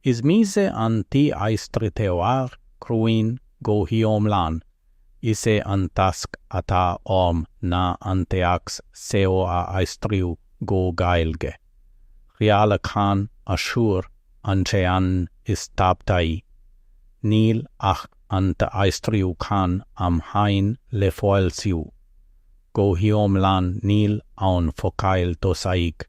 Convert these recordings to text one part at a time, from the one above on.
Is mise an t-aistritheoir cruinn go hiomlán. Is é an tasc atá orm ná an téacs seo a aistriú go Gaeilge. Rialachán aschuir an ceann is tábhachtaí. Níl ach an t-aistriúchán amháin le foilsiú. Go hiomlán níl aon focail tosaigh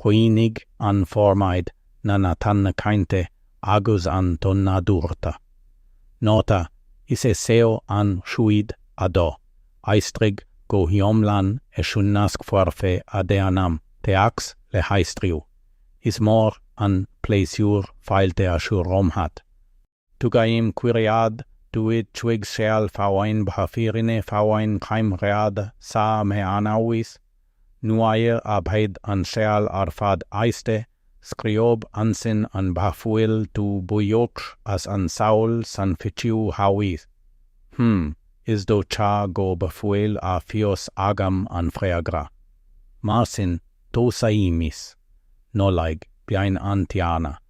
Coinnigh an formáid na nathanna cainte agus an ton nádúrta. Nóta, Is é seo an chuid 2. Aistrigh go hiomlán é chun nasc foirfe a dhéanamh téacs le haistriú. Is mór an pléisiúr fáilte a chur romhat. Tugaim cuireadh duit chuig scéal faoin bhfírinne faoin gheimhreadh sa Mheánaois, nuair a bheidh an scéal ar fad éiste, scríobh ansin an bhfuil tú buíoch as an saol san fhichiú haois. Hm, is dócha go bhfuil a fhios agam an freagra. Mar sin, tosaímis. Nollaig, bliain an Tiarna.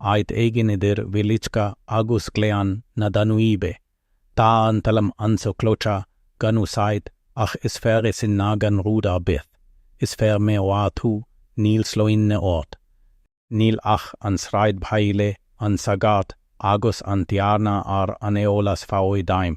áit éigin idir Wieliczka agus Gleann na Danúibe. Tá an talamh anseo clochach gan úsáid ach is fearr é sin ná gan rud ar bith. Is feirmeoir thú, níl sloinne ort. Níl ach an sráidbhaile, an sagart agus an tiarna ar an eolas faoi d'ainm.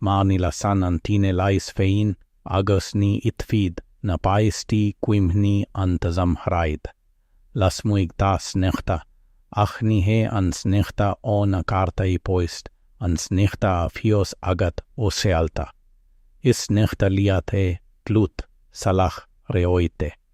mar ní lasann an tine leis féin agus ní ithfidh na páistí cuimhní an tsamhraidh lasmuigh tá sneachta, ach ní hé an sneachta ó na cártaí poist an sneachta a fhios agat ó scéalta. Is sneachta liath é, dlúth, salach, reoite.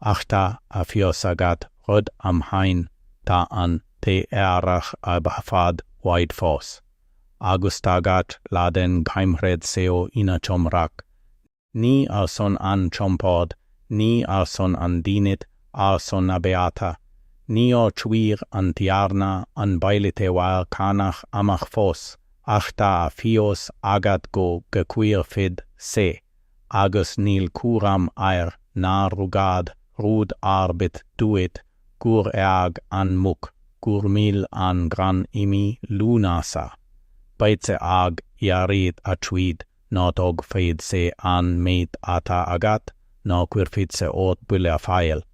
Ach tá a fhios agat rud amháin, tá an t-Earrach i bhfad uaidh fós, agus tá gach lá den gheimhreadh seo ina chomhrac, ní ar son an chompord, ní ar son an dínit, ar son na beatha. Níor chuir an Tiarna an bailitheoir cánach amach fós, ach tá a fhios agat go gcuirfidh sé. agus níl cúram air nár rugadh rud ar bith duit gur éag an mhuc gur mhill an grán i mí Lúnasa, beidh sé ag iarraidh a chuid nó tógfaidh sé an méid atá agat nó cuirfidh sé ort buille a fháil.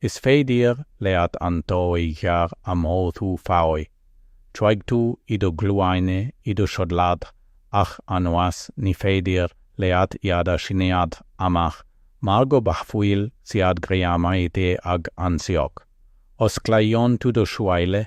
Is féidir leat an tuí ghéar a mhothú faoi, Chuaigh tú i do ghlúine i do chodladh, ach anois ní féidir leat iad a shíneadh amach mar go bhfuil siad greamaithe ag an sioc. Osclaíonn tú do shúile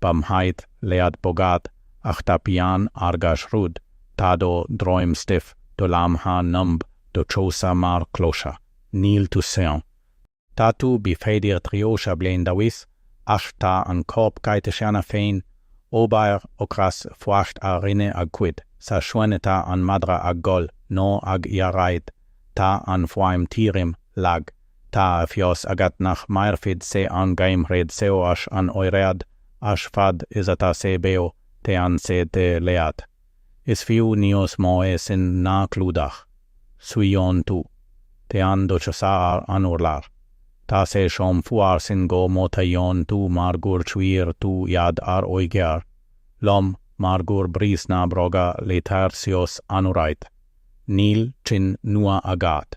ba mhaith leat bogadh ach tá pian ar gach rud tá do dhroim stiff do lámha numb do chosa mar chlocha níl tú sean tá tú b'fhéidir tríocha bliain d'aois ach tá an corp caite cheana féin obair ocras fuacht a rinne a gcuid sa chúinne tá an madra ag gol nó ag iarraidh tá an fhuaim tirim lag Tá a fhios agat nach mairfidh sé an geimhreadh seo ach an oiread, ach fad is atá sé beo téann sé te leat. Is fiú níos mó é sin ná clúdach. Suíonn tú. Téann do chosa ar an urlár. Tá sé chomh fuar sin go mothaíonn tú mar gur chuir tú iad ar oighear, lom, mar gur bhris na bróga leathair síos anuraidh. Níl cinn nua agat.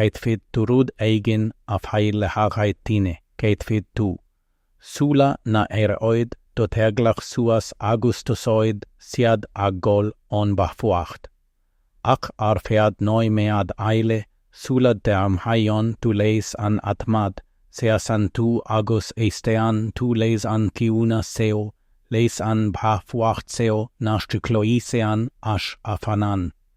caithfidh tú rud éigin a fháil le haghaidh tine, caithfidh tú, sula n-éireoidh do theaghlach suas agus tosóidh siad ag gol ón bhfuacht. Ach ar feadh nóiméad eile, sula dteagmhaíonn tú leis an adhmad, seasann tú agus éisteann tú leis an gciúnas seo, leis an bhfuacht seo nach gcloiseann ach a fhanann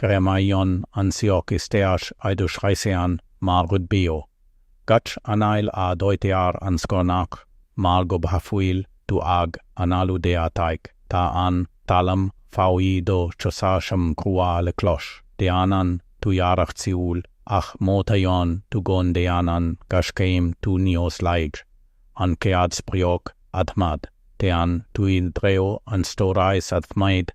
Greamaíonn an sioc isteach i do chraiceann mar rud beo. Gach anáil a dhóitear an scornach mar go bhfuil tú ag análú deataigh, tá an talam faoi do chosa chomh crua le cloch. Déanann tú iarracht siúil, ach mothaíonn tú go ndéanann gach céim tú níos laige. An chéad sprioc, adhmad. Téann tú i dtreo an stórais adhmaid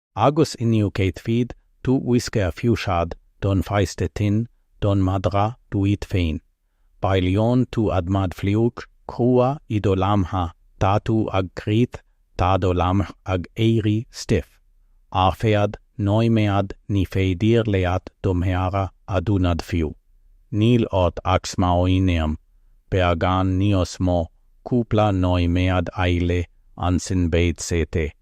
Agus inniu caithfidh tú uisce a fhiuchadh don pháiste tinn, don madra, duit féin. Bailíonn tú adhmad fliuch, crua i do lámha, tá tú ag crith, tá do lámha ag éirí stiff. Ar feadh nóiméad ní féidir leat do mhéara a dhúnadh fiú. Níl ort ach smaoineamh, beagán níos mó, cúpla nóiméad eile, ansin beidh sé te.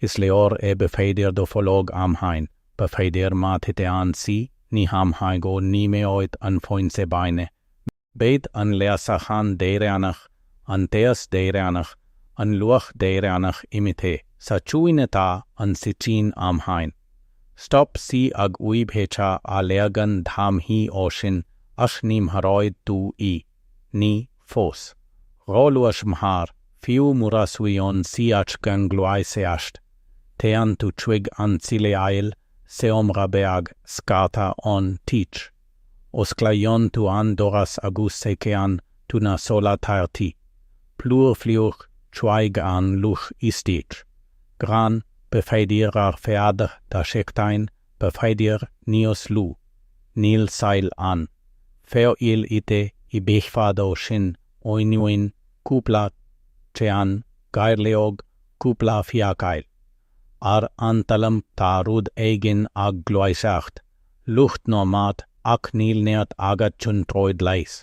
Is leor é b'fhéidir do bhológ amháin, b'fhéidir má thiteann sí, ní hamháin go n-imeoidh an fhoinse bainne, beidh an leasachán deireanach, an teas deireanach, an luach deireanach imithe sa chúinne tá an sicín amháin. Stop sí ag uibheacha a leagan dhá mhí ó shin ach ní mharóidh tú í. Ní, fós. Ró-luath sem thar, fiú mura suíonn tsaíocht gan gluaiseacht. Téann tú chuig an tsiléar, seomra beag, scartha ón tigh. Osclaíonn tú an doras agus seiceálann tú na soláthairtí. Plúr fliuch chuaigh an luch istigh. Grán, b'fhéidir ar feadh dhá sheachtain b'fhéidir níos lú, níl saill ann, feoil ite i bhfad ó shin oinniúin cúpla ceann gairleog cúpla fiacail. Ar an talamh tá rud éigin ag gluaiseacht, luch nó mat ach níl neart agat chun troid leis.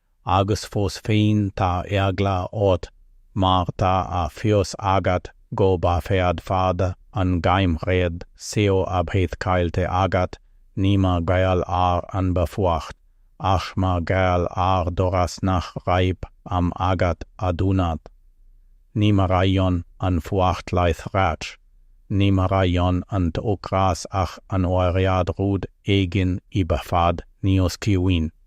agus fós féin tá eagla ort mar tá a fhios agat go bhféadfadh an geimhreadh seo a bheith caillte agat, ní mar gheall ar an bhfuacht, ach mar gheall ar doras nach raibh am agat a dhúnadh. Ní mharaíonn an fuacht láithreach, ní mharaíonn an t-ocras ach an oiread rud éigin i bhfad níos ciúine.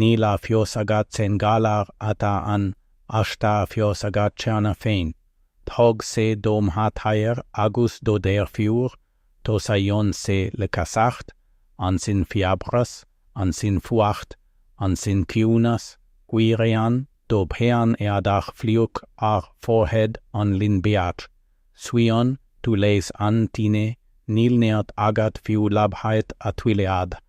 Níl a fhios agat cén galar atá ann ach tá a fhios agat cheana féin. Thóg sé do mháthair agus do dheirfiúr, tosaíonn sé le casacht, ansin fiabhras, ansin fuacht, ansin ciúnas, cuireann do bhean éadach fliuch ar forehead an linbh beag, suíonn tú leis an tine, níl neart agat fiú labhairt a thuilleadh.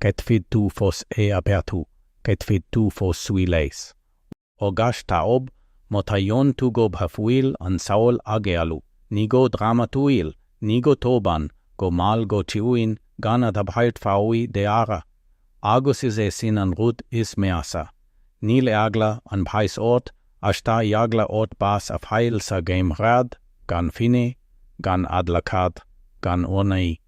caithfidh tú fós é a bheathú, caithfidh tú fós suí leis. Ó gach taobh, mothaíonn tú go bhfuil an saol ag éalú, ní go drámatúil, ní go tobann, go mall go ciúin gan a thabhairt faoi deara. Agus is é sin an rud is measa. Níl eagla an bháis ort ach tá eagla ort bás a fháil sa gheimhreadh gan finné, gan adhlacadh, gan urnaí.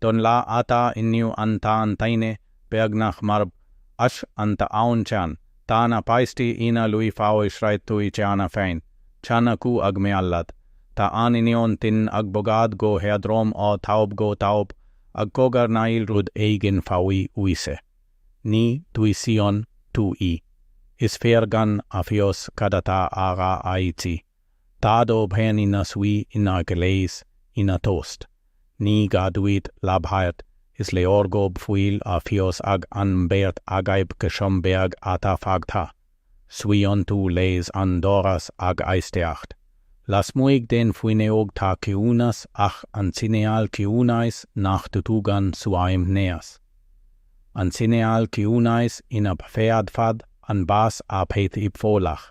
Don lá atá inniu ann tá an tine beagnach marbh ach an t-aon cheann tá na páistí ina lui faoi shraith tui cheana fein. Chan acu ag mealladh. Tá an iníon tinn ag bogadh go héadrom ó thaobh go taobh ag cogarnaíl rud éigin faoi uisce. Ní dhúisíonn tú í. Is fearr gan a fhios cad atá á rá aici. Tá do bhean ina suí in aice leis, ina tost, ní gá duit labhairt, is leor go bhfuil a fhios ag an mbeirt agaibh cé chomh beag atá fágtha. Suíonn tú leis an doras ag éisteacht. Lasmuigh den bhfuinneog tá ciúnas ach an cineál ciúnais nach dtugann suaimhneas. An cineál ciúnais ina bhféadfadh an bás a bheith i bhfolach.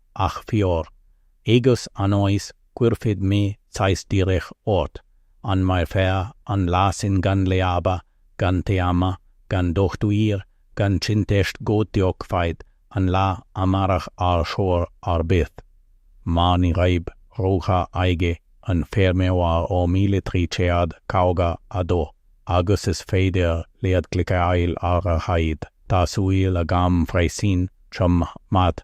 ach fíor, agus anois cuirfidh mé ceist dhíreach ort, an mairfeá an lá sin gan leaba, gan téamh, gan dochtúir, gan cinnteacht go dtiocfaidh an lá amárach ar chor ar bith? Mar ní raibh rogha ag an bhfeirmeoir ó míle trí chéad caoga a dó, agus is féidir leat cliceáil ar aghaidh, tá súil agam freisin, chom maith